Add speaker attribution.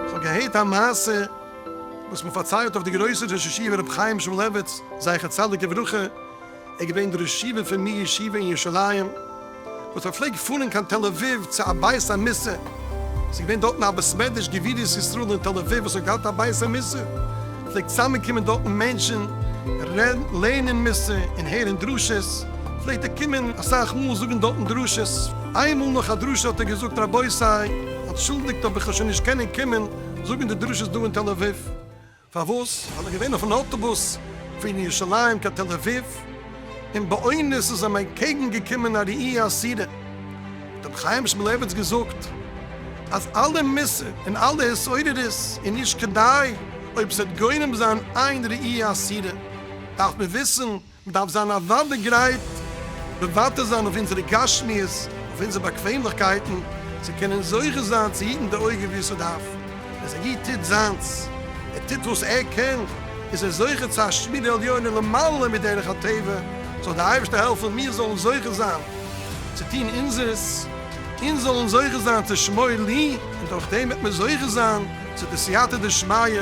Speaker 1: כ'האב געהערט א מעשה וואס מ'פארציילט אויף די גרויסע ראש ישיבה רבי חיים שמואלעוויץ זכר צדיק לברכה, איז געווען דער ראש ישיבה פון מיר ישיבה אין ירושלים, וואס האט געפלעגט פארן קיין תל אביב צו א בית המסע, עס איז געווען דארטן א בית מדרש גבורות ישראל אין תל אביב וואס האט געהאט א בית המסע, עס פלעגט צוזאמען קומען דארטן מענטשן רעדן לערנען מס' און הערן דרשות, פלעגט ער קומען אסאך מאל זאגן דארטן דרשות, איינמאל נאך א דרשה האט ער געזאגט רבותי אנטשולדיגט אבער איך וועל שוין נישט קענען קומען זאגן די דרשות דא אין תל אביב. פארוואס? ווייל איך געווען אויפן אוטובוס פון ירושלים קיין תל אביב, און באונערס איז אים אנטקעגן געקומען א ראי' אסירה, האט אים חיים שמולעוויץ געזאגט אז אלע מוסר און אלע התעוררות איז נישט כדאי, אויב ס'וועט גורם זיין איין ראי' אסירה דארף מען וויסן, מ'דארף זיין אוודאי גרייט מוותר זיין אויף אונזערע גשמיות, אויף אונזערע באקוועמליכקייטן, צו קענען זוכה זיין צו היטן די אויגן ווי עס איז דארף. אז א איד טוט זיינס, ער טוט וואס ער קען, איז ער זוכה צו א שמירה עליונה למעלה מדרך הטבע, זאל דער אייבערשטער העלפן מיר זאלן זוכה זיין צו טון אונזערס, אונז זאלן זוכה זיין צו שמור לי, און דורכדעם וועט מען זוכה זיין צו די סייעתא דשמיא